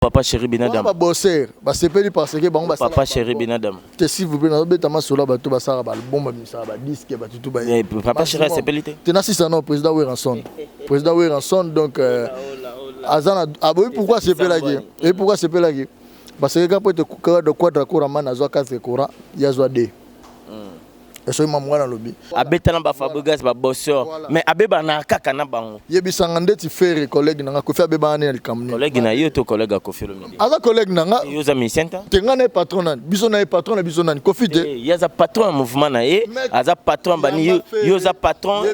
Papa chéri Benadam. Ba bosser, ba sepeli parce que bango ba Papa chéri Benadam. Te si vous pouvez beta masola ba to ba sala ba album ba misa ba disque ba tutu ba. Eh, papa chéri sepeli te. Te na sisa non président Weranson. Président Weranson donc euh, azana aboyi ah, pourquoi sepelaki et pourquoi sepelaki parce que quand peut te de quadra courant man azwa 4 courant yazwa 2. esoki mamu wana alobi abeta na ba fabrigas ba bosseur voilà. mais abeba na kaka na bango yebisanga ndeti ferre collègue nanga kofi abeba na likambo nini collègue na yo to collègue ya kofi olomide aza collègue nanga yo za musicien ta tenga na patron nani biso na patron na biso nani kofi te eh, ya za patron ya mouvement na ye aza patron bani yo yo za patron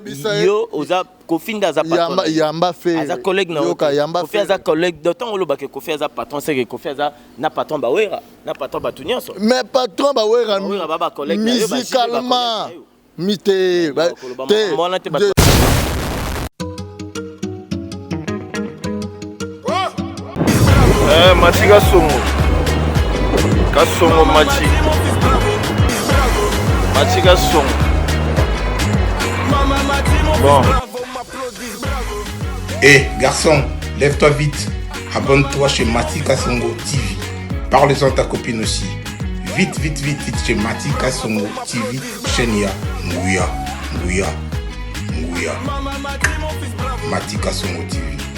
yo oza Kofi nda aza patron. Yamba yamba fe. Aza collègue na yoka yamba fe. Kofi aza collègue. Donc tango loba ke Kofi aza patron c'est que Kofi aza na patron ba wera, na patron ba tunyoso. Mais patron ba wera. Ba wera ba ba collègue. Musicalement. Mite. Te. Eh, machi kasongo kasongo machi machi kasongo bon Eh, garçon, lève-toi vite. Abonne-toi chez Mati Kasongo TV. Parle-en à ta copine aussi. Vite, vite, vite, vite chez Mati Kasongo TV. Chenia, Nguya, Nguya, Nguya. Mati Kasongo TV.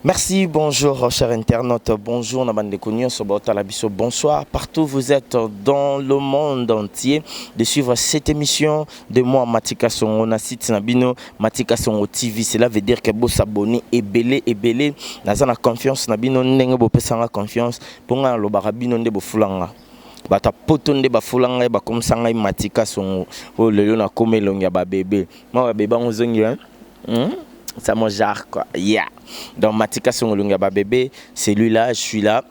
Merci, bonjour cher internaute, bonjour na bandeko nyonso baotala biso, bonsoir partout vous êtes dans le monde entier de suivre cette émission de moi Matika Songo na site na bino Matika Songo TV. Cela veut dire que bo s'abonner ebele ebele naza na confiance na bino ndenge bo pesanga confiance mpo ngai nalobaka bino nde bofulanga bato ya poto nde bafula ngai bakomisa ngai matika songo oyo lelo nakomi elongi ya babebe mwa babebe yango ozongi hein? Hum, ça mon genre quoi. Yeah. Donc Matika Songolunga ba bébé, celui-là, je suis là.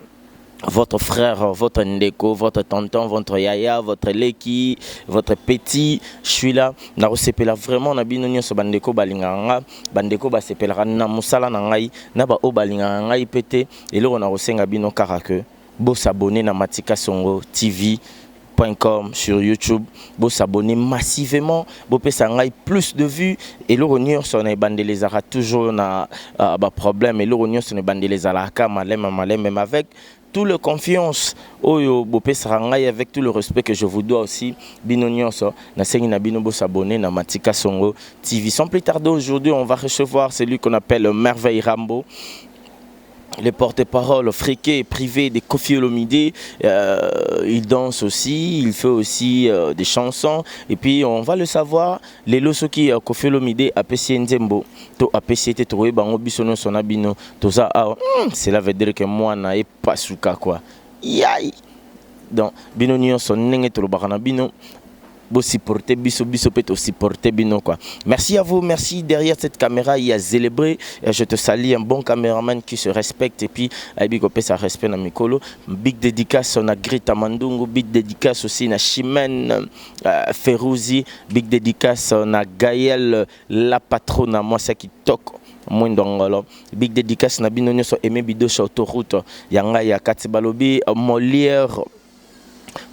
Votre frère, votre ndeko, votre tonton, votre yaya, votre leki, votre petit, je suis là. Na sepela vraiment na bino nyonso ba ndeko balinga nga, ba ndeko ba sepela na musala na ngai, na ba o balinga ngai pete, eloko na kosenga bino kaka que Bo s'abonner na matikasongotv.com sur YouTube bo s'abonner massivement bo pesa ngai plus de vue eloko nionso na ebandeli ezalaka toujours na ba problème eloko nionso na ebandeli ezalaka kaka malembe malembe mais avec tout le confiance oyo bo pesaka ngai avec tout le respect que je vous dois aussi bino nionso na sengi na bino bo s'abonner na matikasongotv sans plus tarder aujourd'hui on va recevoir celui qu'on appelle merveille rambo le porte-parole friqué privé de Kofi Olomide, euh, il danse aussi, il fait aussi euh, des chansons. Et puis on va le savoir, les loso qui euh, Kofi Olomide a pessé Nzembo, to a pessé te trouvé bango bisono son abino, to ça, ah, hmm, cela veut dire que moi na e pas souka quoi. Yay! Donc, bino nionso nenge tolobaka na bino Bo supporter biso biso pe to supporter bino quoi. Merci à vous, merci derrière cette camera il y a Zelebre. Euh, je te salue un bon cameraman qui se respecte et puis ayebi ko pesa respect na mikolo. Big dédicace na Greta Mandungu, big dédicace aussi na Chimène euh, Ferouzi, big dédicace na Gaël la patrona mwasi ya kitoko mwindo ngolo big dédicace na bino nyonso aimé bidoche autoroute ya ngai ya kati balobi euh, molière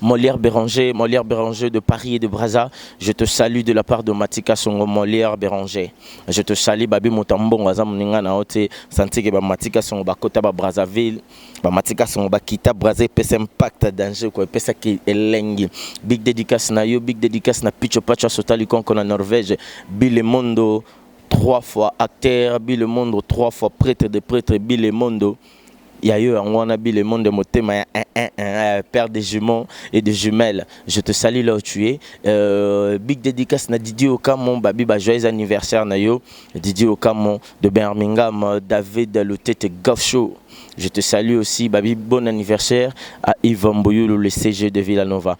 Molière Beranger, Molière Beranger de Paris et de Brazza, je te salue de la part de Matika Songo Molière Beranger. Je te salue Babi Mutambongo aza muninga na ote santike ba Matika Songo ba kota ba Brazzaville, ba Matika Songo ba kita Brazza pesa impact danger ko pesa ki elengi. Big dédicace na yo, big dédicace na Picho Pacho Sota Likonko na Norvège, Bile Mondo trois fois acteur, Bile Mondo trois fois prêtre de prêtre, Bile Mondo Ya yo yango wana bi le monde motema ya eh eh eh père de jumeaux et de jumelles je te salut là où tu es euh, big dedicace na Didier Okamo ba bi ba joyeux anniversaire na yo Didier Okamo de Birmingham David Lutete Gaucho je te salut aussi ba bi bon anniversaire à Yves Mbuyulu le CG de Villanova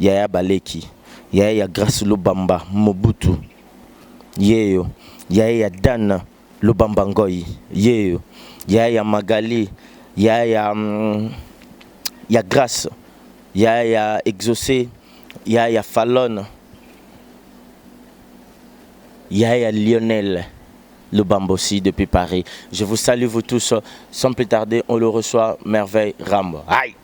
yaya baleki yaya ya grace lubamba mobutu yeyo yaya ya dana lubamba ngoyi yeyo yaya ya magali yaya ya mm, ya grace yaya ya exauce yaya ya falone yaya ya lionel lubamba aussi depuis paris je vous salue vous tous sans plus tarder on le reçoit merveille rambo Aïe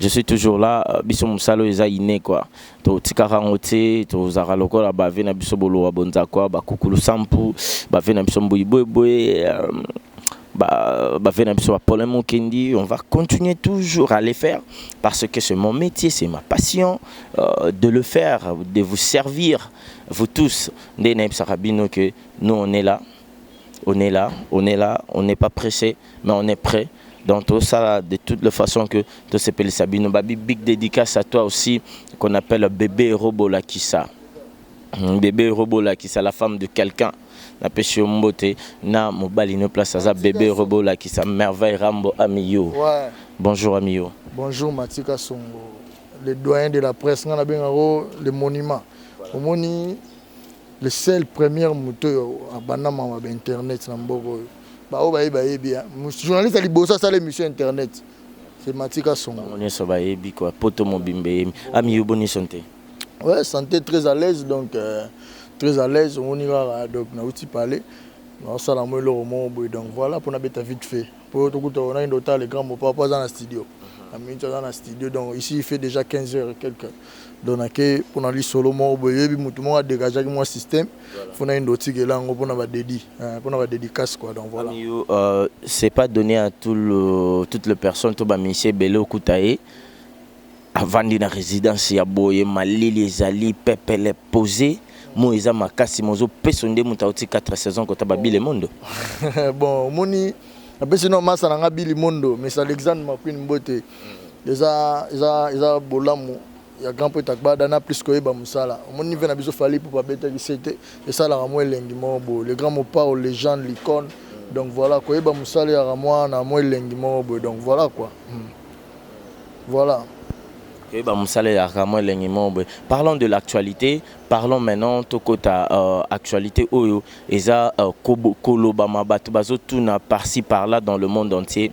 je suis toujours là biso mosala oyo eza ine kua totikaka yango te tozalaka lokola bave na biso bolowa bonzakua bakukulu sampu bave na biso mbuyi boyeboye euh, bave na biso bapole mokendi on va continuer toujours à le faire parce que c'est mon métier c'est ma passion euh, de le faire de vous servir vous tous nde nayebisaka bino que nous on est là on est là on est là on n'est pas pressé mais on est près donc tout ça de toutes les façons que tout se pèle Sabino babi big dédicace à toi aussi qu'on appelle bébé robot la kissa hmm, bébé robot la kissa la femme de quelqu'un na pesi mbote na mobali no place aza bébé robot la kissa merveille rambo amiyo ouais. bonjour amiyo bonjour matika songo le doyen de la presse nga na benga le monument omoni le seul premier moto oyo abanda mawa ba internet na mboka oyo Ba oyo bayebi bayebi hein. Mus- Journaliste ya liboso asala emission ya internet. C'est Matika Songo. Bango nionso bayebi quoi. Poto mobimba eyemi. Ami yo boni sante? Ouais, santé très à l'aise donc euh, très à l'aise omoni kaka donc nauti pale naosala mo eloko moko boye donc voilà mpo nabeta vite fait mpo tokuta onakende otala le grand mopa mpo aza na studio na minute aza na studio donc ici il fait déjà 15 heures et quelques donc nake pona lisolo moko boye yebi mutu moko adegajaki mwa système fona yende otikela yango pona badedi eh, pona badedicace quoi donc voilà Amiyo, euh, c'est pas donné à tout le, toute le personne to bamisi ebele okuta ye avandi na résidence ya boye malili ezali pepele pose mo eza makasi mozopeso nde moto auti 4 saison kota babile mondo bon omoni napesi no masa na nga bili mondo mais alexandre maquin mbote eza eza eza bolamu ya grand prêtre agbada na plus koyeba mosala omoni nive na biso fali pupa abetaki sete esalaka mwa elengi moko boye le grand mopao legende licone donc voilà koyeba mosala eyaka mwa na mwa elengi moko boye donc voilà quoi hmm. voilà koyeba mosala eyaka mwa elengi moko boye parlons de l'actualité parlons maintenant tokota uh, actualité oyo eza uh, kolobama bato bazotuna parci par là dans le monde entier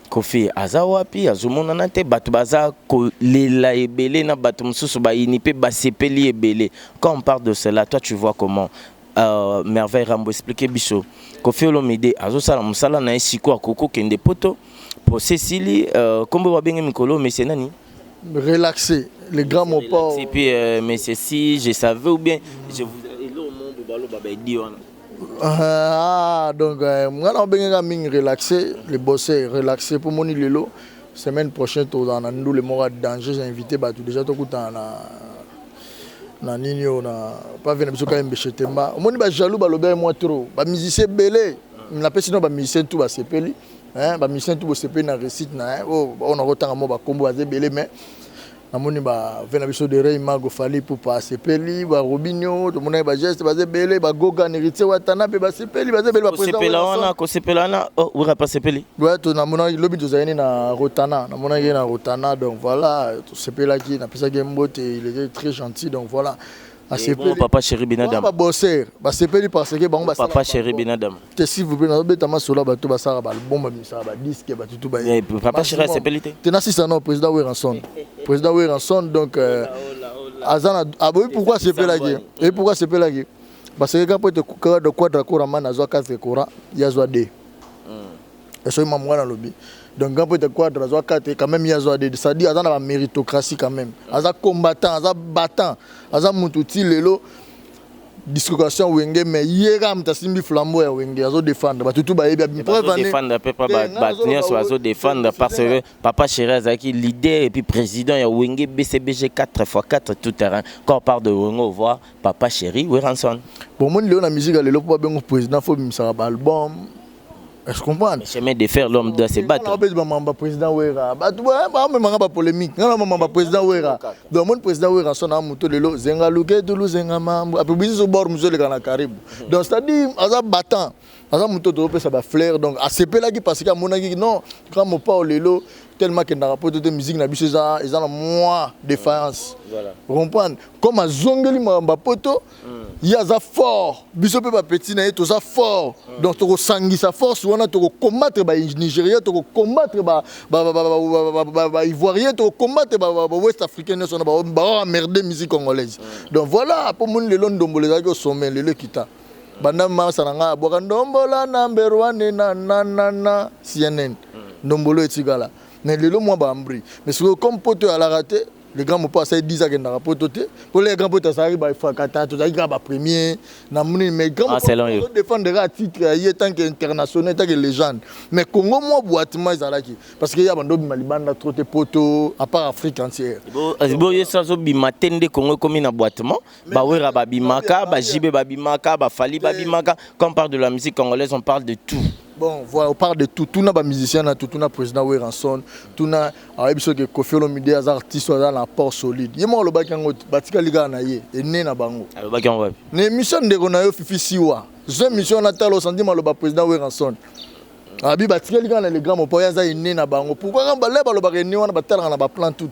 Koffi aza wapi azo monana te batu baza ko lela ebele na batu mususu ba yini pe ba sepeli ebele quand on parle de cela toi tu vois comment euh, merveille rambo explique biso Koffi Olomide azo sala musala na ye siko akoko kende poto procès sili euh, kombo ba bengi mikolo monsieur nani relaxer le grand mopao et puis euh, monsieur si je savais ou bien je vous Ah, donc euh, nga na obengaka mingi relaxer le bosser relaxer mpo moni lelo semaine prochaine tozala na ndule moko ya danger j'ai invité bato déjà tokutana na na nini oyo na pave na biso kayembe chetemba omoni bajaloux balobi ye mwa trop bamusicien ebele napesi no bamusicien tu basepeli bamusicien tu bosepeli na réussite na ye oyo nakotanga mwa bakombo baza ebele mais Namoni ba ve na biso de Rey Mago Fally Ipupa asepeli ba Robinho tomonaki ba geste baza ebele ba Gogan Heritier Watanabe basepeli baza ebele ba president kosepela wana Werrason. kosepela wana oh, wera mpe asepeli Ouais, to namonaki lobi tozalaki nde na Rotana namonaki ye na Rotana donc voilà tosepelaki napesaki ye mbote il était très gentil donc voilà Asepeli. Papa chéri Benadam. Ba bosser, ba sepeli parce que bango ba Papa chéri Benadam. Te s'il vous plaît, na beta masola bato ba sala ba album, ba misala ba disque, ba tutu ba. Eh, papa chéri asepeli te. Te na sisa non président Weranson. Président Weranson donc euh, azana aboyi ah, pourquoi asepelaki? Et pourquoi asepelaki? Parce que quand peut te kukara de quadra coramana azwa 4 courant, yazwa 2. Ya soki mamu wana alobi donc grand prêtre quadra azwa kate quand meme ye azwa DD ça dit aza na ba meritocratie quand meme aza combattant aza battant aza mutu ti lelo dislocation wenge mais ye kaka mutu asimbi flambeau ya wenge azo défendre batu tout bayebi abimi preuve année bazodefendre mpe mpa Te, ngai bato nazoloba nyonso oyo, bazodefendre Felix parce Senga. que papa chéri azalaki leader epuis président ya wenge bcbg 4 fois 4 tout terrain quand on parle de wenge ovoa papa chéri weranson bomoni lelo na musique ya lelo mpo babengo président fo obimisaka ba album Est-ce que comprends? Le chemin de fer, l'homme doit se battre. On appelle maman ba président Wera. Ba tu ba ba maman ba polémique. Non maman ba président Wera. Donc mon président Wera son amu to lelo zenga luke to lu zenga mambo. Après bizi so bord muzo le kana karibu. Donc c'est-à-dire aza battant. Aza muto to pesa ba fleur donc asepela ki parce que amona ki non quand mon pao lelo tellement que ndaka poto te musique na biso eza eza na moi défaillance. Voilà. Comprendre? Comme azongeli maman ba poto ye aza fort biso mpe bapetit na ye toza fort donc tokosangisa force wana tokocombatre banigeria tokocombatre baivoirien tokocombatre bawest africain nyonso na baamerde musique congolaise donc voilà mpo moni lelo ndombola ezalaki osome lelo ekita banda masa na ngai abwaka ndombola na mberwane na nanana cnn ndombolo etikala mais lelo mwa baambri mais sikoyo comme poto alaka te Le grand Mopao asali 10 ans akendaka poto te. Pour le grand Mopao azalaki ba Efrakata, tozalaki kaka ba premier na moni mais grand ah, Mopao azo défendre kaka titre ya ye tant que international, tant que légende. Mais Congo mwa boitement ezalaki parce que ya bando bima libanda trop te poto à part Afrique entière. Bo euh, bo yeso azo bima te nde Congo ekomi na boitement. Ba Werra babimaka, ba JB babimaka, ba Fally babimaka. Quand on parle de la musique congolaise, on parle de tout. Bon, voilà, on parle de tout. Tout n'a pas musicien, na tout, tout n'a président Werrason, tout n'a alors biso que Koffi Olomide as artiste as un apport solide. Yemo le baki yango batika liga na ye et né na bango. Alors baki yango. Ne mission ndeko na yo Fifi Siwa. Zo mission na talo sandi maloba président Werrason. Abi batika liga na le grand mpo yaza né na bango. Pourquoi quand baleba le baki né wana batalaka na ba plan tout.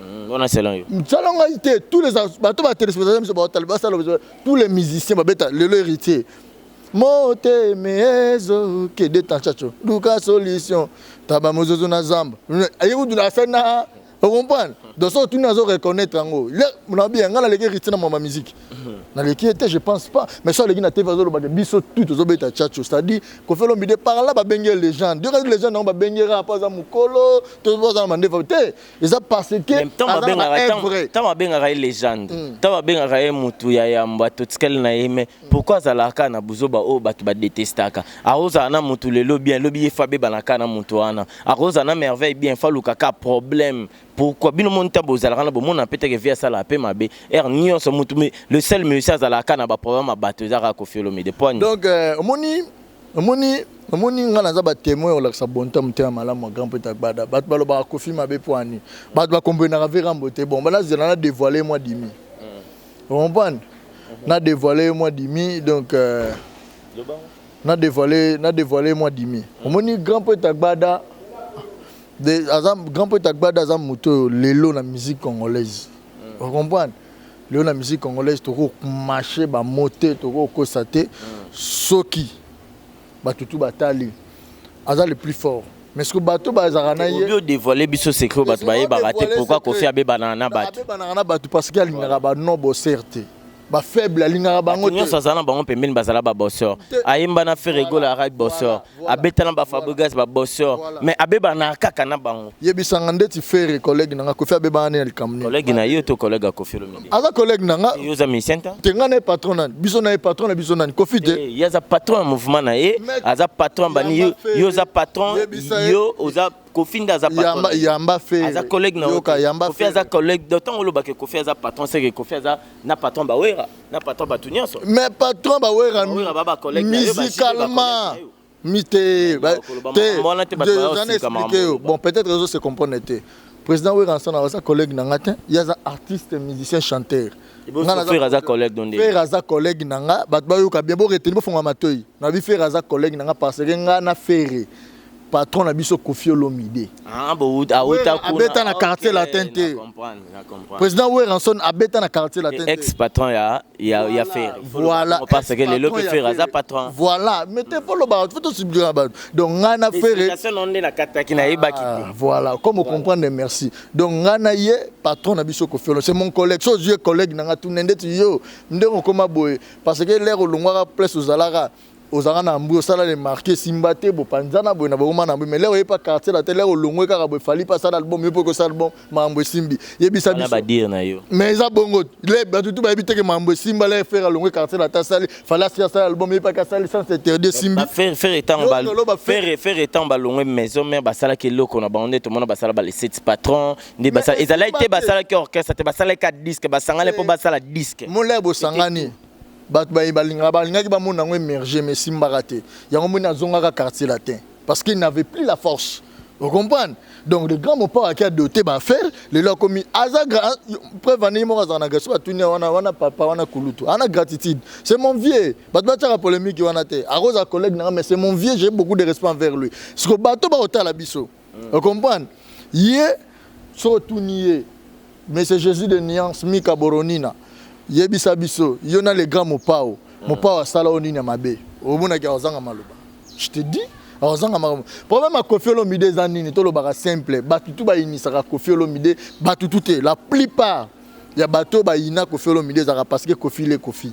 Hmm, wana salon yo. Salon ngai te, tous les bato ba téléspectateurs biso ba taliba salon biso, tous les musiciens ba beta lelo héritier. Mote mezo ke de tanchacho, duka solution, taba mozozo na zamba. Ayi kudu na sana, vous comprenez? Donc ça tu n'as reconnaître yango. Là, on a bien ngala leki héritier na ma musique. Na leki était je pense pas, mais ça leki na TV zo loba biso tout zo beta chacho, c'est-à-dire ko felo mide par là ba benge légende. Dira légende na ba bengera pas za mukolo, to zo za mande te. eza parce que ntango abengaka ye legende ntango hmm. abengaka ye motu ya yamba totikali na ye me pourkui azalaka kaka na buzoba oyo bato badetestaka akozala na motu lelo bien lobi ye fa abebana kaka na motu wana akozala na merveille bien fa aluka kaka problème pourquoi bino moni ntango bozalaka na bomona mpe teke vi asalaka mpe mabe ere nyonso motu le seul musicien azalaka kaka na baproblème ya bato eza kaka kofiolomide poani donc euh, omoni Omoni, omoni nga naza ba temoin ya kolakisa bonte ya motema malamu ya grand poeta Gbada. Bato balobaka Koffi mabe mpo ani. Bato ba comprenaka mpe Rambo te. Bon, nazela na devoile ye mwa dimi. O comprendre? Na devoile ye mwa dimi, donc euh, na devoile, na devoile ye mwa dimi. Omoni grand poeta Gbada, de, aza, grand poeta Gbada aza moto oyo lelo na musique congolaise. O comprendre? lelo na musique congolaise tokomashe bamo te tokokosa te soki bato tu batali aza le plus fort mais soki bato bazalaka na ye odevoile biso secret bato bayebaka te pourkoi kofi abebanaka na bato abebanaka na bato parce que alingaka bano boser te bafaible alingaka bango nyonso azala na bango pembeni bazala babosor ayemba na ferregola arai bosor abeta na ba Fabregas ba bosseur mais abeba na kaka na bango yebisanga ndeti ferre collègue nanga kofi abeba na likambo nini collègue na yo to collègue ya kofi olomide aza collègue nanga yo za musicien ta te nga na patron na biso na patron na biso na kofi te eh, ye aza patron ya mouvement na ye aza patron bani yo yo za patron yo oza kofi nde aza patron yamba fe aza collègue na yo kofi aza collègue d'autant olobaka kofi aza patron c'est que kofi aza na patron bawera na patron batu nyonso mais patron ba wera musicalement mi te expliquer yo bon peut-être ezo se comprendre te président wera nsana aza collègue na nga te ye aza artiste musicien chanteur frère aza collègue donde frère aza collègue na nga bato bayoka bien boreteni bofongola matoi na bi frère aza collègue na nga parce que nga na ferre patron na biso Koffi Olomide ah, abeta na quartier latin te président Werrason abeta na quartier latin te ex patron ya ya ya Ferre voilà parce que le lobe Ferre aza patron voilà mais te polo ba faut subir ba donc nga na Ferre non na kataki na yebaki ah, voilà comme vous comprenez merci donc nga na ye patron na biso Koffi Olomide c'est mon collègue so yeux collègue na nga tunende yo ndenge okoma boye parce que l'air olongwaka place ozalaka ozalaka na mbu osala le marque esimba te bopanzana boye na bokoma na mbu mais leo oye pa quartier latin leo olongwe kaka boye fali pa asala album yo mpe okosala album makambo esimbi yebisa wana biso badire na yo mais eza bongo le bato tu bayebi te ke makambo esimba le fere alongwe quartier latin asali fali asi asala album ye paki asali sans interdit esimbi Ba- Ferre Ferre etango Yo, ba- oloba Ferre- Ferre Ferre etango balongwe maison mère basalaki eloko na bango nde tomona basala ba les sept patrons nde basala Mais ezalaki esimba te te. basalaki orchestre te basalaki ka disque basangani mpo basala disque molai bosangani Bato baye balingaka balingaki bamona yango emerger mais esimbaka te. Yango omoni nazongaka quartier latin parce qu'il n'avait plus la force. Vous comprenez? Donc le grand Mopao qui a doté ba affaires, lelo akomi aza grand preuve ane moko azana gaso batunia wana wana papa wana kulutu. Ana gratitude. C'est mon vieux. Bato batiaka polemique wana te. Akoza collègue nanga mais c'est mon vieux, j'ai beaucoup de respect envers lui. Siko bato ba otala biso. mm. o comprendre ye so otuni ye monsieur jésus de nuance mika boronina yebisa biso yo na le grand mopao mm. mopao asala yo nini ya mabe omonaki akozanga maloba je te dis akozanga makambo problème ya kofi olomide eza nini tolobaka simple bato tu bayinisaka kofi olomide bato tu te la plupart ya bato oyo bayina kofi olomide ezalaka parce que kofi le kofi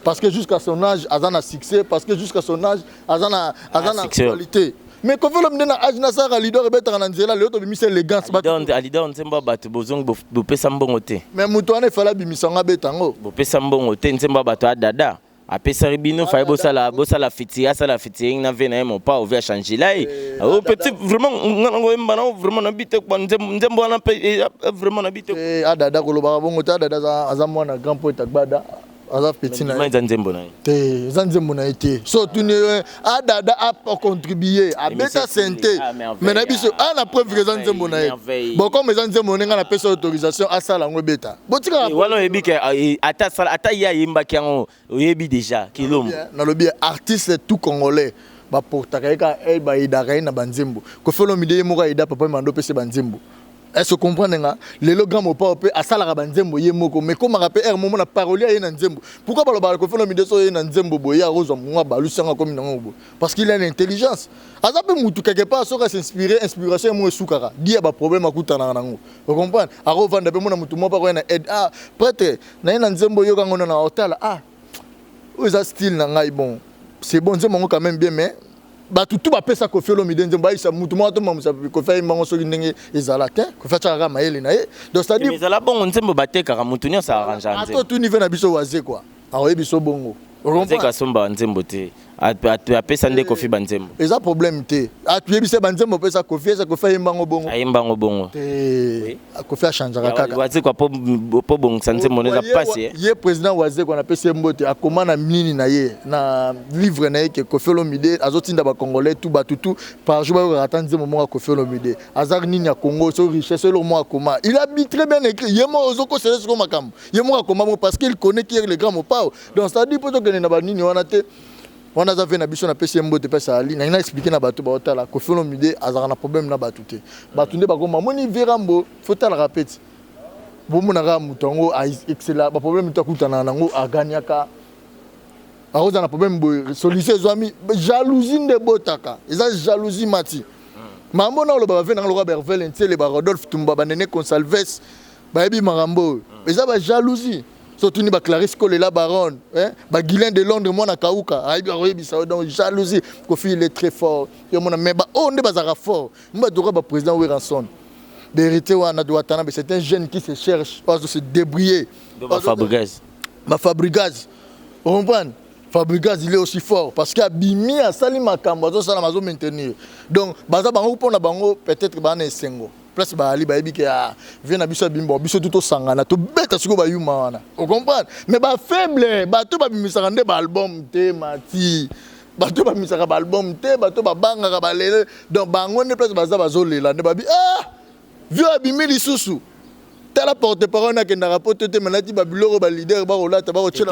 parce que jusqu'à son âge aza na succès parce que jusqu'à son âge aza na aza na actualité mais kofi olomide na âge nasalaka lidor ebetaka na nzela lelo tobimisa elegance alidor nzembo ya bato bozongi bopesa mbongo te mais moto wana efale abimisa yango abeta yango bopesa mbongo te nzembo ya bato ya dada Apesaki bino faye bosala bosala fiti asala fitiing na vie na ye mopao vie achangela ye eh, oh, petit vraiment nga nango oyemba nango vraiment na bite kwa nzembo wana mpe eh, eh, vraiment na bite adada kolobaka bongo te adada aza mwana grand poete agbada aza petit na ye eza nzembo na ye te eza nzembo na ye te so otuni adada ah, acontribue ah, abeta sente ah, me na biso a na preuve eza nzembo na ye bokoma eza nzembo ndenge napesa autorisation asala yango ebeta botikaka eh, wana oyebi ke eh, ata ye ayembaki yango oyebi déjà kilombo nalobi artiste tout congolais baportaka ye kaka eh, bayedaka ye na banzembo kofelomide ye moko ayeda papa mando pese banzembo Est-ce que comprendre nga lelo grand mopao pe asalaka ba nzembo ye moko mais komaka pe er momo na parole ye na nzembo pourquoi balo balo kofelo mideso ye na nzembo boye akozwa mwa balu sanga komi na ngo parce qu'il a une intelligence aza pe mutu quelque part soka s'inspirer inspiration mo esukaka dia ba problème akutana na ngo vous comprenez ako vanda pe mona mutu mo pa ko na aide ah prêtre na ye na nzembo yoka ngo na otala ah oza style na ngai bon c'est bon nzembo ngo quand même bien mais bato tu bapesa kofi olomide nzembo ayisa motu moko tomamusa kofi ayemba yango soki ndenge ezala te kofi atyaka kaka mayele na ye donc cetadire ezala bongo nzembo batekaka motu nyonso arrange ata nzembo otuni ve na biso waze kua akoyebi biso bongo azeka asomba nzembo te apesa nde kofi banzembo eza problème te atuyebisa banzembo opesa kofi eza kofi ayemba yango bongo ayemba yango bongo te kofi achangeaka kaka wazekwa mpo bongisa nzembo eza mpasi eh. ye président wazekwa na pesi ye mbote akoma na nini na ye na livre na ye ke kofi olomide azotinda bacongolais tu bato tu par jour bayokaka ata nzembo moko ya kofi olomide aza nini ya congo so richesse eloko moko akoma il habite très bien écrit ye moko ozokosele soko makambo ye moko akoma moko parce qu'il connaît qui est le grand mopao donc c'est à dire mpo tokende na banini wana te wana aza vie na biso napesi ye mbote mpe asali nangi na explike na bato baotala kofi olomide azalaka na problème na bato te bato nde bakoma moni virambo fotalaka mpe ti bomonaka moto yango excela baproblème to akutanaka nango aganyaka akozala na problème boye solution ezwami jalousie nde ebotaka eza jalousie mati mambo na oloba bave nanga lokola bervele nsele ba rodolphe tumba banene consalves Bayebi makambo oyo. Eza ba jalousie. So tuni ba Clarisse Kolela Baronne, hein? Ba Guylain de Londres mwana kauka, ayebi akoyebisa yo donc jalousie. Kofi il est très fort. Yo mona mais ba oyo nde bazaka fort. Mba doka ba president Werrason. Ba héritier wana de Watanabe, c'est un jeune qui se cherche, ozo se débrouiller. Donc ba Fabrigaz. Ba Fabrigaz. Vous comprenez? Fabricas il est aussi fort parce qu'à Bimi à Salima Kambo, ça la maison maintenir. Donc, baza bango pour na bango peut-être bana esengo. place baali bayebi ke ah, vie na biso ya bimbo biso tu tosangana tobeta sikoyo bayuma wana ocomprendre mais bafaible bato babimisaka nde baalbum te mati bato babimisaka baalbum te bato babangaka balele donc bango nde place baza bazolela nde babi ah vio abimi lisusu tala porte parole nakendaka poto te manati babiloko balider bakolata bakotyela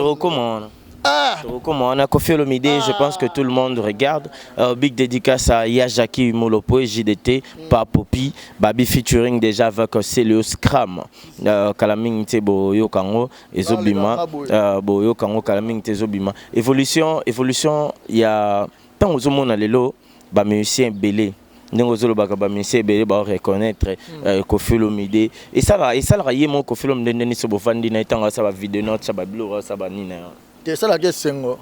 Ah. Tokokoma wana Koffi Olomide, je pense que tout le monde regarde. Euh, big dédicace à Yajaki Molopoe, JDT, Papopi, Babi featuring déjà avec Celio Scram. Euh, Kalaming te bo yokango ezobima, euh, bo yokango Kalaming te ezobima. Évolution, évolution ya tango zomona lelo ba musiciens belé. ndenge ozolobaka bamisie ebele bao reconnaitre hmm. euh, kofilomide esalaka esalaka ye moko kofilomide nde niso bofandi na ye ntango asala bavideo na otya babiloko asala banini na yo te esalaka esengo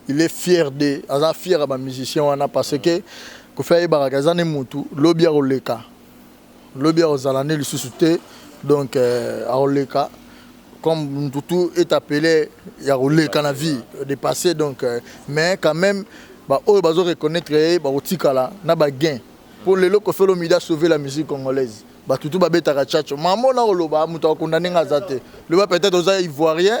il est fier de aza fier ya bamusicien wana parce que kofi ayebaka eza ne mutu lobi akoleka lobi ako zala nde lisusu te donc ako leka comme mutu tout est appele ya ko leka na vie de passer donc mais quand meme ba oyo bazo reconnaitre ye bako tikala na ba gain po lelo koffi olomide a sauve la musique congolaise batu tout ba betaka tchatcho mambo nako loba mutu ako condamne nga aza te loba peut etre oza ivoirien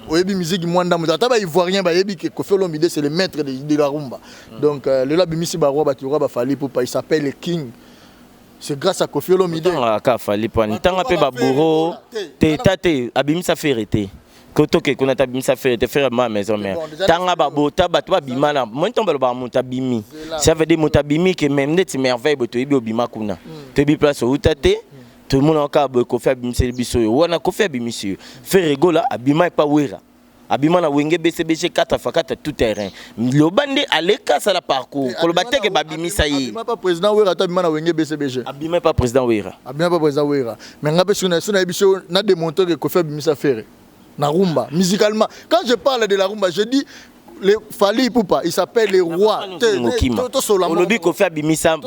oyebi musique mua ndambu te ata ba ivoirien ba yebi que koffi olomide c'est le maitre de la rumba donc lelo abimisi ba roi batu lokola ba fally ipupa il s'appelle le king C'est grâce à Kofi Olomide. Tanga ka fali pani. Tanga pe ba bourreau. Te tate abimisa ferre te. Kotoke kuna tabimisa ferre te ferre ma maison mère. Tanga ba bota bato ba bima na. Moi ntomba ba muta bimi. Ça veut dire muta bimi que même ndeti merveille boto yebi obima kuna. Mm. Toyebi place outa te. Mm. Tomona ka boye kofi abimisa biso yo. Wana kofi abimisa yo. Ferre gola abima pa wera. abima na wenge bcbg kata fakata tout terrain loba nde aleka asala parcours eh, koloba teke babimisa ye président wera ata abima na wenge bcbg abima epa président wera abima epa président wera mais nga mpe soki nayebi so na demontre ke kofi abimisa fere na rumba musicalement quand je parle de la rumba je dis Fally Ipupa, il s'appelle le roi. olobi kofi abimisa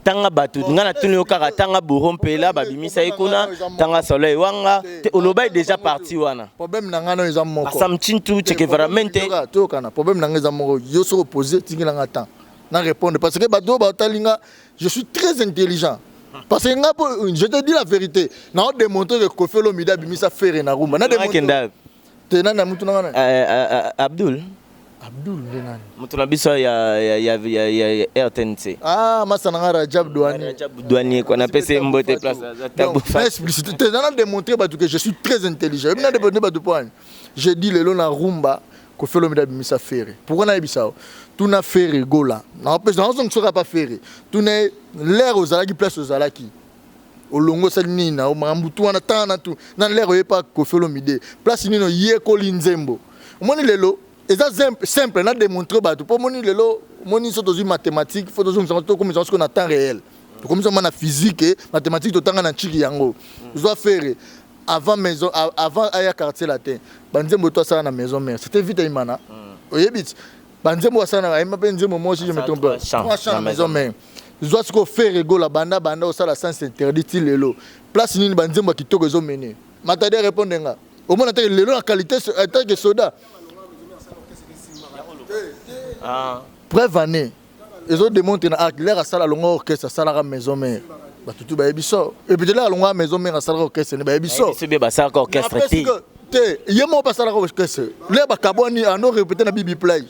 tanga bato ngai natuni yo kaka tanga bouro mpela babimisa ye kuna tanga soleil wanga te olobai déjà parti wana problème na ngai nayo eza moko samchintu chekevaramente tokana problème na ngai eza moko yo soki opose tingela ngai temps na répondre parce que bato oyo batali ngai je suis très intelligent parce que ngai je te dis la vérité nao démontre que kofi olomide abimisa fere na rumba na démontre te nani ya mutu na ngai eh, eh, eh, Abdul Abdul nde nani mutu na biso ya ya ya ya RTNC ah masa na ngai Rajab Douani Rajab Douani ko na pese mbote place tabu fa explicite te nana démontrer batu que je suis très intelligent mimi na démontrer batu point je dis lelo na rumba ko felo mi da bimisa ferre pourquoi na yebisa tuna ferre gola na pesa na zongi soka pa ferre tuna l'air ozalaki place ozalaki olongo sali nini na makambo tu wana tanga na tu na lere oye pa Koffi Olomide place nini oyekoli nzembo omoni lelo eza simple na démontrer bato mpo omoni lelo omoni so tozwi mathématique fo tozongisango tokomisa siko na temps réel tokomisa ma na physique eh, mathématique totanga na ntiki yango zwa fere avant maison avant aya quartier latin banzembo to asala na maison mère c'était vita imana mm. oyebi ti ba nzembo asala na bayemba mpe nzembo moi si je me trompe pas trois chants na maison mère zwa sikoyo fere egola banda banda osala sens interdit ti lelo place nini ba nzembo ya kitoko ezo mene matadi arépondre nga omona te lelo na qualité atake eh, soda ah. preuve année ezo démontre na arc lere asala longo orchestre asalaka maison mère batutu bayebi so eputelaka longo ya maison mère asalaka orchestre ne bayebi so basalaka orchestre te te ye moko basalaka orchestre le bakabwani ano repete na bibi play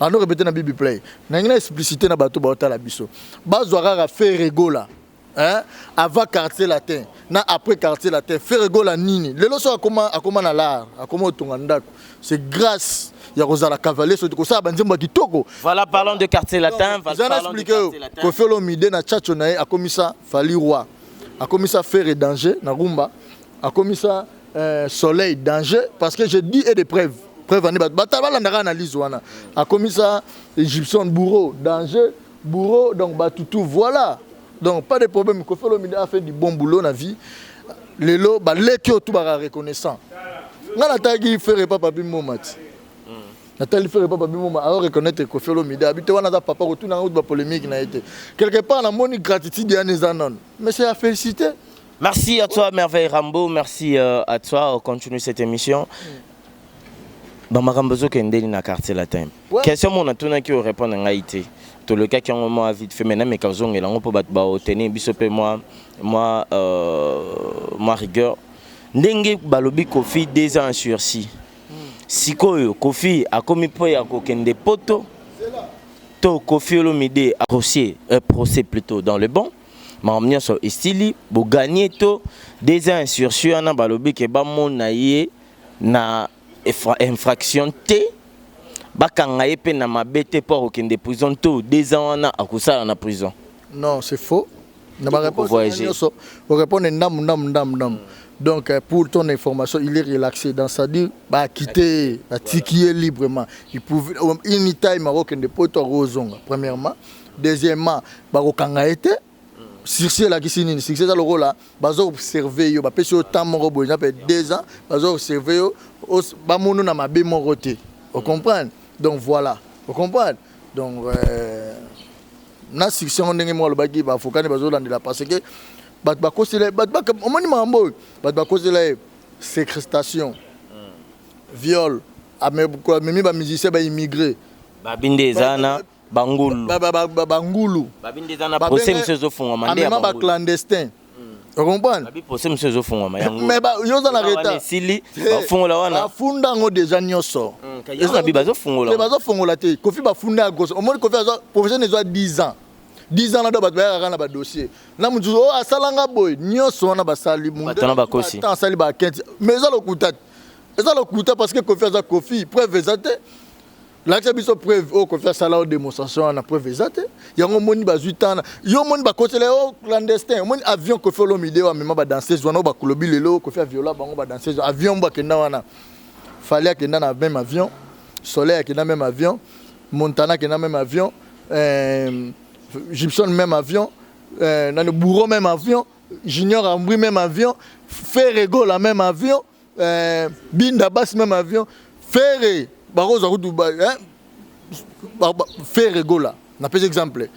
ano repete na bibi play nangi na explicité na bato baotala biso bazwa kaka feregola hein? avant quartier latin na après quartier latin feregola nini lelo so akoma akoma na lar akoma otonga ndako c'est grâce ya kozala cavalier soki kosala banzembo ya kitoko voilà parlons de quartier latin eza na explike yo kofi olomide na chacho na ye akomisa fali roi akomisa fere danger na rumba akomisa euh, soleil danger parce que je dis et des preuves preuve ane bato balandaka analyse wana akomisa egyption bourreau danger bourreau donc bato tout voilà donc pas de problème kofi olomide a fait du bon boulot na vie lelo baleki oyo tout baka reconnaissant ngai nataki fere papa bimoma ti natali fere papa bimoma ao reconnaître kofi olomide abi te wana aza papa kotuna ngai kutu bapolémique na ye te quelque part namoni gratitude yana eza none mais c'est ya félicité Merci à toi Merveille Rambo, merci euh, à toi, on continue cette émission. Ba makambo zo kendeli na quartier latin. Question mon atuna ki o répondre ngai te. To le cas qui en moi vite fait maintenant mais ka zongela ngo po bat ba o tenir biso pe moi moi euh moi rigueur. Ndenge balobi Kofi deux ans sursis. Sikoyo Kofi akomi po ya kokende poto. To Kofi Olomide a procès, euh, procès plutôt dans le bon. makambo nyonso esili bo gagner to deuxième insurrection wana balobi ke bamona ye na infraction te bakanga ye mpe na mabe te mpo akokende prison to deux ans wana akosala na prison non c'est faux na bareponse nyonso orepondre ndambu ndambu ndambu ndambu donc euh, pour ton information il est relaxé dans sa dire baakite ye batiki ye librement il pouvait anytime akokende poto akozonga premièrement deuxièmement bakokanga ye te sursis elakisi nini sursis eza lokola bazo observe yo bapesi yo temps moko boye nape deux ans bazo observe yo bamono na mabe moko te ocomprendre donc voilà ocomprendre donc euh, na sursis yango ndenge moko alobaki baavoka nde bazolandela parce que bato bakosela ye bato omoni makambo oyo bato bakosela ye sécrestation viol amemi bamusicien baimmigré babi nde eza na bangulu ba, ba, ba, ba, bangulu babi nde eza na Babenge- procès mosusu ezofungwama nde ya amema ba bangulu clandestin okomprendre babi procès mosusu ezofungwama ya ngulu mais ba- yo oza na Eza wana retard esili Hey, bafungola wana bafunda yango deja nyonso Mm, kaya Eza- wana bi bazofungola Te, yango. bazofungola te kofi bafunda ya grosse omoni kofi azwa profession ezwa 10 ans 10 ans na do bato bayaka kaka na badossier na mosusu oyo asalanga boye nyonso wana basali Munde Bato wana azwi bakosi. ba-temps, asali bakenti mais eza lokuta te eza lokuta parce que kofi aza kofi preuve eza te lakisa biso preuve oyo kofi asala oyo démonstration wana preuve eza te yango omoni bazwi tana yo omoni bakotela yo oh, clandestin omoni avion kofi olomide oyo amema badanseuse wana oyo bakolobi lelo kofi aviola bango badanseuse avion mbo akenda wana fali akenda na même avion soleil akenda même avion montana akenda même avion euh, gibson même avion euh, nani bouro même avion junior ambri même avion ferregola même avion eh, binda basi meme avion fere bakozwa kutu eh, fere gola napesi exemple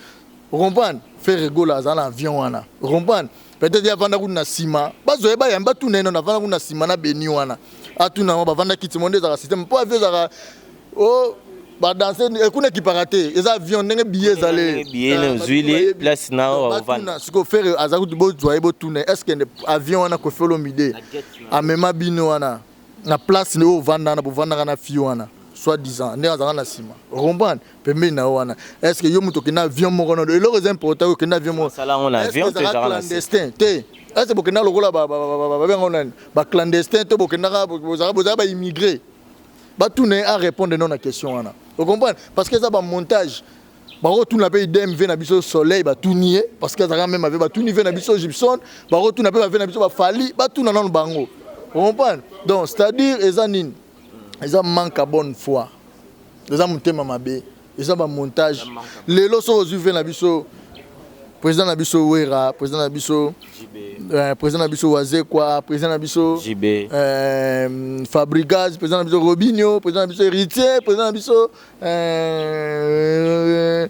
okomprendre fere gola aza na avion wana okomprendre peut-être ye avanda kutu na nsima bazwa ye bayambi batuna ye nono avanda kutu na nsima na beni wana atuna yango bavanda kiti mo nde ezalaka systeme mpo avion ezalaka oh ba danse eh, kuna ekipaka te eza avion ndenge biye ezali biye na ozwili place na ovanda siko fere aza kutu bozwa ye botuna est ce que avion wana kofi olomide amema bino wana na place oyo ovanda wana bovandaka na fille wana soit disant ndenge azalaka na nsima okomprendre pembeni na yo wana est ce que yo moto okenda avion moko na eloko eza important oyo okenda avion mokoezalaka clandestin te est ce que bokenda lokola babenga nani baclandestin to bokendaka bozalaka baimmigré batuna ye a répondre non na question wana ocomprendre parce que eza bamontage bakotuna mpe idem ve na biso soleil batuni ye parce que azalaka meme ave batuni ve na biso gibson bakotuna mpe bave na biso bafali batuna nano bango ocomprendre donc c'est à dire eza nini eza manque ya bonne foi eza motema mabe eza ba montage lelo soki ozwi ve na biso président na biso wera président na biso euh, président na biso wazekwa président na biso euh, fabrigaz président na biso robinio président na biso héritier président na biso euh,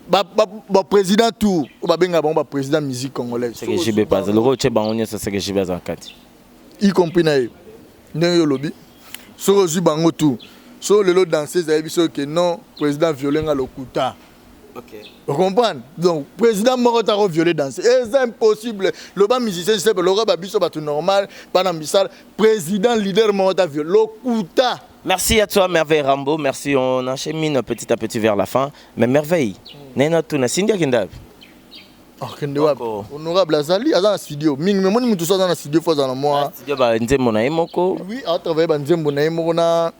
baprésident ba, ba tour oyo babengaka bango baprésident musique congolaise seke jibe paza lokola otye bango nyonso seke jibe aza na kati y compris na ye ndenge yo olobi soki ozwi bango tout so lelo danseuse ayebi soki ke non président viole nga lokuta Okay. ocomprendre donc président moko tako viole danse eza impossible loba musicien sepe lokola babiso bato normal bana misala président leader moko ta viole lokuta Merci à toi, Merveille Rambo. Merci, on enchaîne petit à petit vers la fin. Mais Merveille, mm. Nena Tuna, Cindy Akindabi. akende wapi honorable azali aza na studio mingi memoni moto so aza na studio fo aza na mwa studio banzembo na ye moko oui atravaille banzembo na ye moko na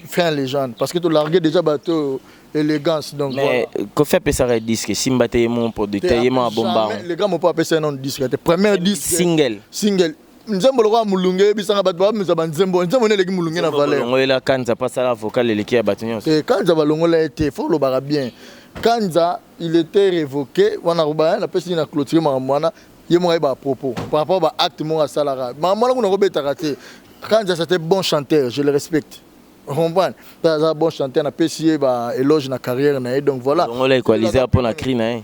fin légende parce que tolargue déjà bato oyo élégance donc mais voilà. kofi apesaka disque esimba te ye moko producteur ye moko abomba le grand mopo apesa ye nano disque te première disque single single nzembo lokola mulunge eyebisanga bato bamisa banzembo nzembo nde eleki mulunge na valeur longolela kanza mpo asala vocal eleki ya bato nyonso te kanza balongola ye te fo olobaka bien kanza il était révoqué wana koba napesi na clôture makambo wana ye moko ayeba propos par rapport ba acte moko asalaka makambo wana kuna kobetaka te kanza c'était bon chanteur je le respecte comprendre aza bon chanteur napesi ye ba éloge na carrière na ye donc voilà longola equaliser mpo na cri na ye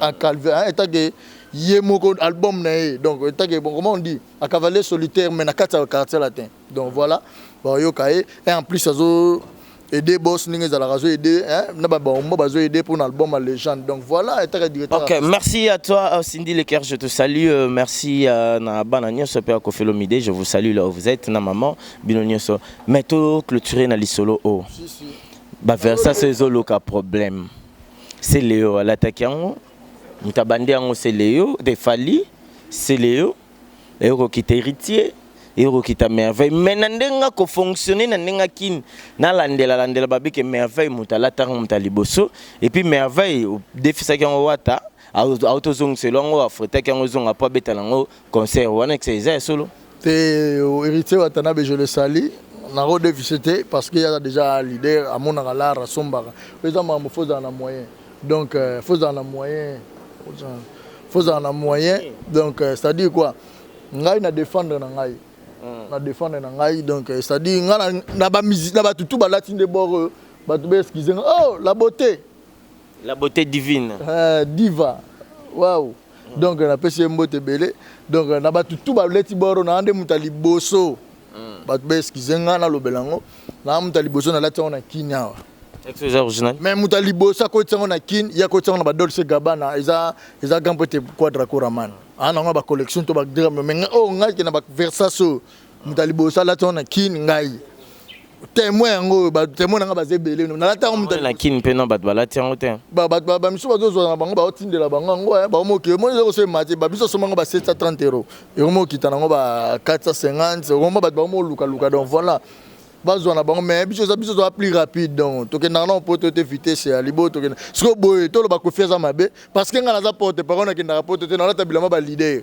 à calvaire hein, état que ye moko album na ye donc état que bon comment on dit à cavalier solitaire mais na kati ya quartier latin donc voilà bon yo kaye et en plus azo aider boss ndenge ezalaka azo aider hein na ba bombo bazo aider pour album à légende donc voilà état que directeur OK merci à toi euh, Cindy le cœur je te salue euh, merci euh, na bana nyoso pe ko felomide je vous salue là où vous êtes na maman bino nyoso mais to clôturer na lisolo o oh. si si ba versa ces oloka problème Celeo alataki yango moto abandi yango Celeo de Fally Celeo eye kokita Heritier eye kokita Merveille mais na ndenge nga ko fonctionner na ndenge kin nalandela landela babike Merveille moto alataka yango moto ya liboso et puis Merveille odefisaki yango wata autozongisela yango afretaki yango ezonga mpo abeta na yango Concert wana kisa eza ya solo? Te Heritier Watanabe je le salue nako defise te parce que aza déjà leader amonaka l'art asombaka oyo eza makambo faut ozala na moyen donc euh, faut ozala na moyen faut ozala na moyen donc euh, c'est à dire quoi ngai na défendre na ngai hmm. na défendre na ngai donc euh, c'est à dire ngai na ba musique na batu tout balati nde bord bato ba excuse oh la beauté La beauté divine. Euh, diva. Waouh. Mm. Donc na pesi mbote belé. Donc na batu tout ba leti boro na ande muta liboso. Mm. Batu ba excuse nga na lobela ngo. Na muta liboso na lati na kinyawa. Excuse original. Mais muta liboso ko tsango na kin, ya ko tsango na ba Dolce Gabbana, eza eza gampo te quadra coraman. Ana ah, nga ba collection to ba drame mais oh nga ke na ba Versace. moto ya liboso alati yango na kini ngai témoin yango oyo batémoin na ngai baza ebele no nalati yango moto na kini mpe na bato balati yango te bamisu bazozwa na bango baotindela bango yango eh, baomoki omoni eza kosema te babiso asomba yango ba 730 euro ekomi okita na yango ba 450 okomba bato bango molukaluka donc voilà bazwa na bango mais biso eza biso toza plus rapide donc tokendaka nao poto te vitesse ya libo tokenda sikoyo boye toloba kofi aza mabe parce que ngai naza porte parole nakendaka poto te nalata bilamba balider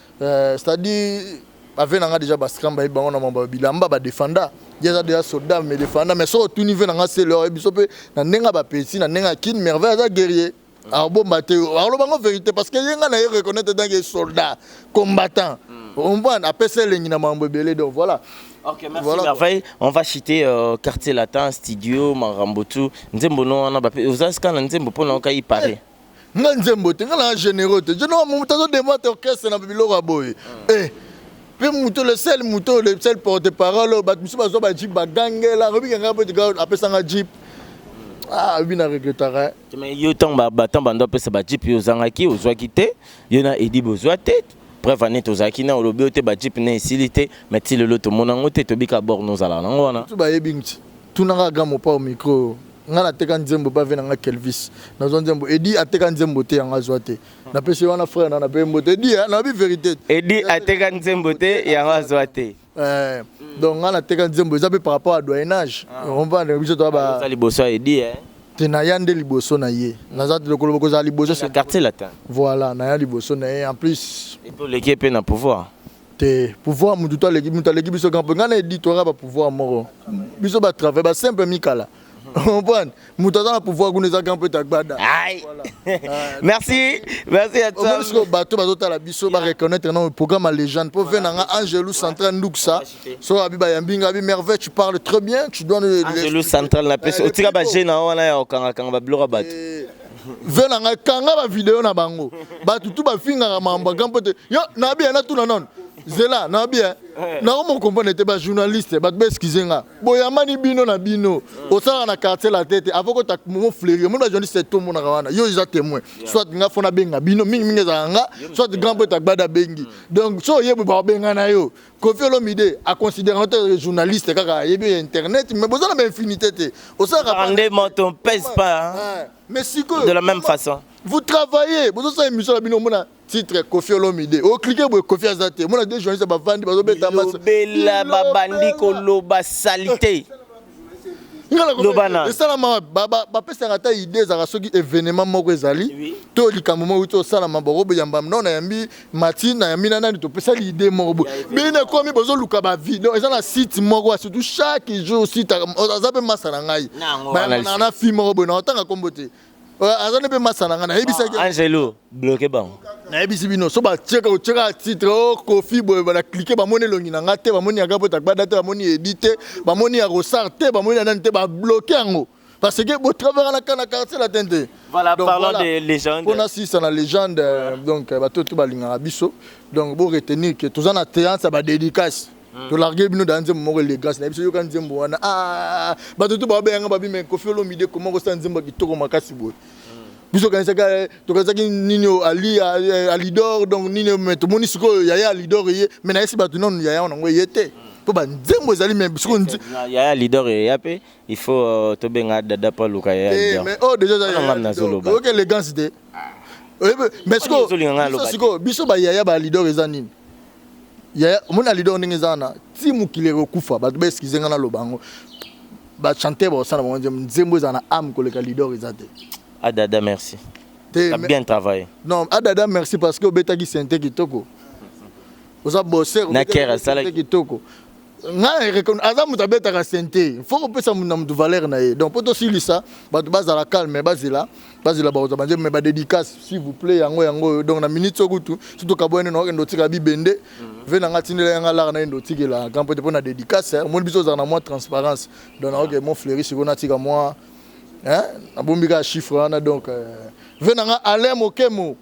Euh, c'est à dire ave na nga déjà bascram bayebi bango na mambo ya bilamba badefanda ye aza déjà soldat mais defanda mais soki otuni ve na nga sele oyebi biso mpe na ndenge ya bapesi na ndenge ya kin merveille aza guerrier akobomba te akoloba ngo vérité parce que ye nga na ye reconnaître etanke soldat combattant mm. omprendre apesi elengi na mambo ebele donc voilà Ok, merci voilà, Merveille. On va citer euh, Quartier Latin, Studio, Marambotu, Nzembo, non, on a pas. Vous avez ce qu'on a Nzembo pour nous, on a nga nzembo te nga na généraux te jeno moto azo demate orchestre na biloko ya boye ah. eh mpe moto le sel moto le sel porte parole oyo bato mosusu bazwa bajip bagangela akobika ngai mpo tika apesa nga jip ah obi na regrettaka eh. mais yo ntango batango bando apesa bajip yo ozangaki ozwaki te yo na edi bozwa te preuve ane tozalaki na olobi yo te bajip na esili te mais ti lelo tomona yango te tobika bor nozala nango wana bayebi nti Tuna nga grand mopao micro oyo nga na teka nzembo ba vena nga kelvis na zwa nzembo edi ateka nzembo te ya nga zwa te na pesi wana frère na na pe mbote edi ya na bi verite edi ateka nzembo te ya nga zwa te eh donc nga na teka nzembo eza pe par rapport à doyenage ah. on va na biso to ba za liboso ya edi eh te na ya nde liboso na ye na za lokolo boko za liboso c'est quartier latin voilà na ya liboso na ye en plus et to leke pe na pouvoir te pouvoir mutu to aleki mutu aleki biso grand nga na edi toyaka ba pouvoir moko biso ba travail ba simple mikala comprendre mutu aza na pouvoir kuna eza grand pete agbada merci merci ya omoni sikoyo bato bazotala biso ba reconnaître na programme ya légende mpo ve na nga angelu central nduksa so abi bayambi nga abi merveille tu parles très bien tu dois angelu central na pesi otika baje na wana ya okangakanga babiloko ya bato ve na ngai kanga bavideo na bango bato tu bafingaka mambo ya grand pote yo nabi ya natuna nano zela nabi ya eh. nao mokomprene te bajournaliste bato baeskize nga boyambani bino na bino eh. osalaka na quartier la tete avo kota momo fleuri omoni bajournaliste te omonaka wana yo eza témoin soit nga fona benga bino mingimingi ezalaka nga soit grand pote agbada bengi hmm. donc so oyebwe bakobengana yo Kofi Olomide a considérant te journaliste kaka ayebi ya internet mais boza na ba infinité te osalaka pas- Rendement, on pèse pas hein, Ouais. mais sikoyo de la même façon. vous travaillez bozosala émission na bino omona titre Kofi Olomide oclike boye Kofi aza te omona deux journaliste bavandi bazobeta maso. Bilobela babandi Bilobela. koloba salite. esalama bapesaka ata idée ezalaka soki événement moko ezali to likambo moko euti osalama bakoboyamba no nayambi mati nayambi na nani topesali idée moko boye bino ekomi bozoluka bavi donc eza na site moko surtout chaque jour site aza mpe masa na ngai na fi moko boye na otanga nkombo te Euh, aza nde mpe masa na ngai nayebisaki ah, angelo bloke bango nayebisi bino so batieka otieka titre o oh, kofi boye bana klike bamoni elongi na ngai te bamoni yaka mpo tagbada te bamoni edi te bamoni ya rosar te bamoni ya nani te babloke yango parce que botravaka na kana quartier latin te voilà parlant de légende mpo nasisa na légende euh, donc euh, bato to balingaka biso donc boretenir ke toza na théance ya badédicace Mm. To larguer bino dans nzembo moko le grâce na biso yoka nzembo wana. Ah, bato to ba benga ba bima Koffi Olomide comment ko sa nzembo kitoko makasi boye. Mm. Biso kanisaka eh, to kanisaki nini Ali eh, Alidor donc nini mais to moni sikoyo yaya Alidor ye mais na yesi bato nanu yaya wana ngo ye te. Mm. mpo banzembo ezali me bisiko yaya leader eya mpe il faut euh, tobenga dada mpo aluka yayamais eh, oyo oh, dejangam nazoloba oyoki élégance te ah. mais sikoyo biso bayaya ba leader eza nini yaya omoni na leader ndenge eza wana ti mokili ekokufa bato ba excuse nga naloba yango bachanteur bakosala bango nzembo nzembo ezala na ame koleka leader eza te adada ah, merci te bien travaille non adada ah, merci parce que obetaki sente kitoko oza bosser na kera asalaki kitoko ngai na aza moto abetaka sente faut kopesa moto na moto valeur na ye donc mpo tosilisa bato bazala calme bazela bazela bakozwa banzembo me badédicace s'il vous plaît yango yango oyo donc na minute so kutu so tokaboyani na okende otika bibende mhm. ve na ngai atindela ya ngai lara na yende otikela kampo te mpo na dédicace eh, omoni biso ozala na mwa transparence donc naoke ah. mo fleuri sikoyo natika mwa eh, nabombi kaka chiffre wana donc eh, ve na ngai alain mokemo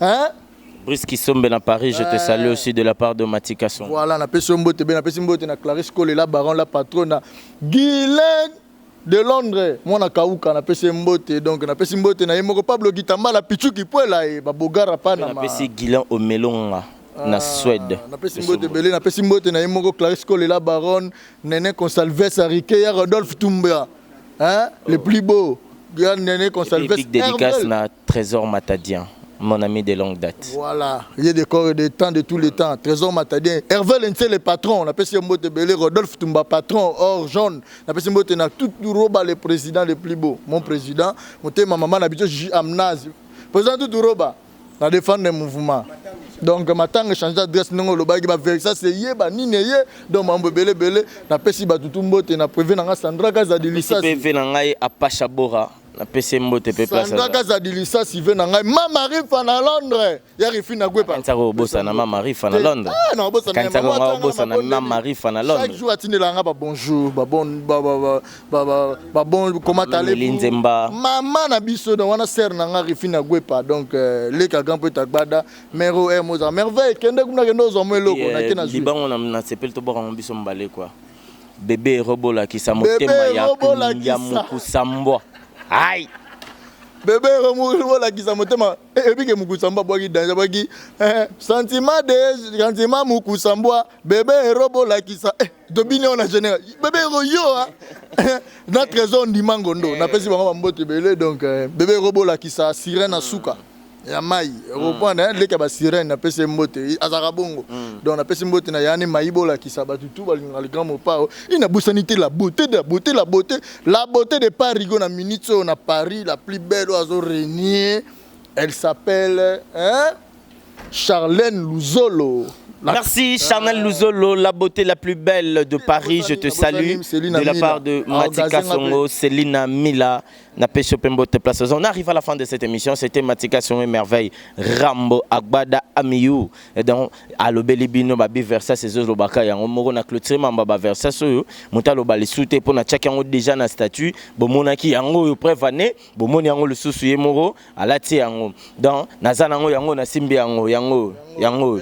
hein Brice Kisombe na Paris, je te salue aussi de la part de Mati Kasson. Voilà, na pesi mbote be na pesi mbote na Clarisse Cole la baron la patronne Guylaine de Londres, mwana kauka na pesi mbote donc na pesi mbote na yemoko Pablo Gitamba la Pichu Kipuela e ba bogara pana ma. Na pesi Gilan Omelonga na ah, Suède. Na pesi mbote belé na pesi mbote na yemoko Clarisse Cole la baronne Nene Consalves Arike ya Rodolphe Tumbia. Hein, oh. le plus beau. Nene Consalves. Big dédicace na Tresor Matadien mon ami de longue date. Voilà, ye de corps et de temps de tous les temps. Trésor Matadien, Hervé Lentse le patron, na pesi mbote belé Rodolphe Tumba patron, or jaune, na pesi mbote na tout roba le président le plus beau, mon président, motema maman na biso Gigi Amnaz. Président tout roba na défendre le mouvement. Donc matanga changer adresse ndenge olobaki ba verisa se ye ba nini ye donc mambo belé belé na pesi ba tutu mbote na privé na nga Sandra Kaza de Lisasi. Pesi na ngai Apacha Bora napesi mbote mpe place sandra kaza dilisa sive na ngai mama rifa na londres ya rifi na gwepa kanisa ko bosa na mama rifa na londres ah na bosa na kanisa ko nga bosa na mama rifa na londres chaque jour atindela nga ba bonjour ba bon ba ba ba ba ba bon comment allez linzemba mama na biso na wana sœur na nga rifi na gwepa donc euh, leka grand peut agbada mero er moza merveille kende kuna kende ozo mo eloko na kena libango na na sepel to boko biso mbale quoi Bebe robo lakisa motema ya ya mukusa mbwa. Hai. Bebe robo lakisa motema ebike mukusa mbwa bwaki danger bwaki eh, sentiment de sentiment mukusa mbwa bebe robo lakisa eh, tobini ona général bebe ro yo ah. na trésor ndima ngondo napesi bango bambote ebele donc eh, bebe robo lakisa sirène asuka. Mm. ya mai mm. reprendre hein leka ba sirène na pese mbote azaka bongo mm. donc na pese mbote na yani mai bola kisa ba tutu ba linga le grand mopao il na bosani te la beauté de la beauté la beauté la beauté de Paris go na minute on a Paris la plus belle oiseau régner elle s'appelle hein Charlène Luzolo Merci Charnel Luzolo, la beauté la plus belle de Paris, je te salue de la part de ah, Matika Songo, Selina Mila. Na pesio pe mbote place oza. On arrive à la fin de cette émission. C'était Matika sur mes merveilles. Rambo Agbada Amiou. Et donc alobeli bino ba biversa ces eaux lobaka yango moko na clôture mamba ba versa soyo muta loba lisute pona tchak yango déjà na statut bomonaki yango yo preuve année bomoni yango lisusu ye moko alati yango. Donc naza nango yango na simbi yango yango yango.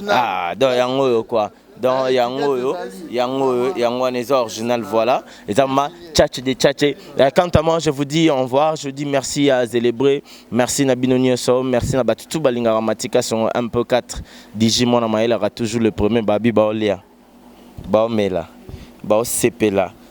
Ah donc yango yo quoi. dans yango oyo yango oyo yango wana eza original voilà eza ma tchatche de tchatche euh, quant à moi je vous dis au revoir je dis merci à Zelebre merci na bino nyonso merci na batu tout balingaka matika songo un peu 4 digi mwana mayelaka toujours le premier babi baolia baomela baosepela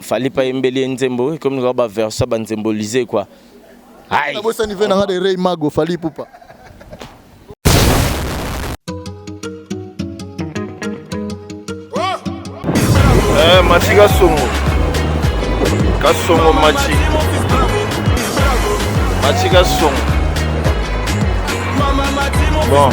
Fally ipa yembeli ye nzembo ekomi lokola ba version ya ba nzembo lize quoi. Aïe. Nabosani vie na nga de Ray Mago Fally Ipupa. Eh, Machi Kasongo. Kasongo Machi. Machi Kasongo. Bon.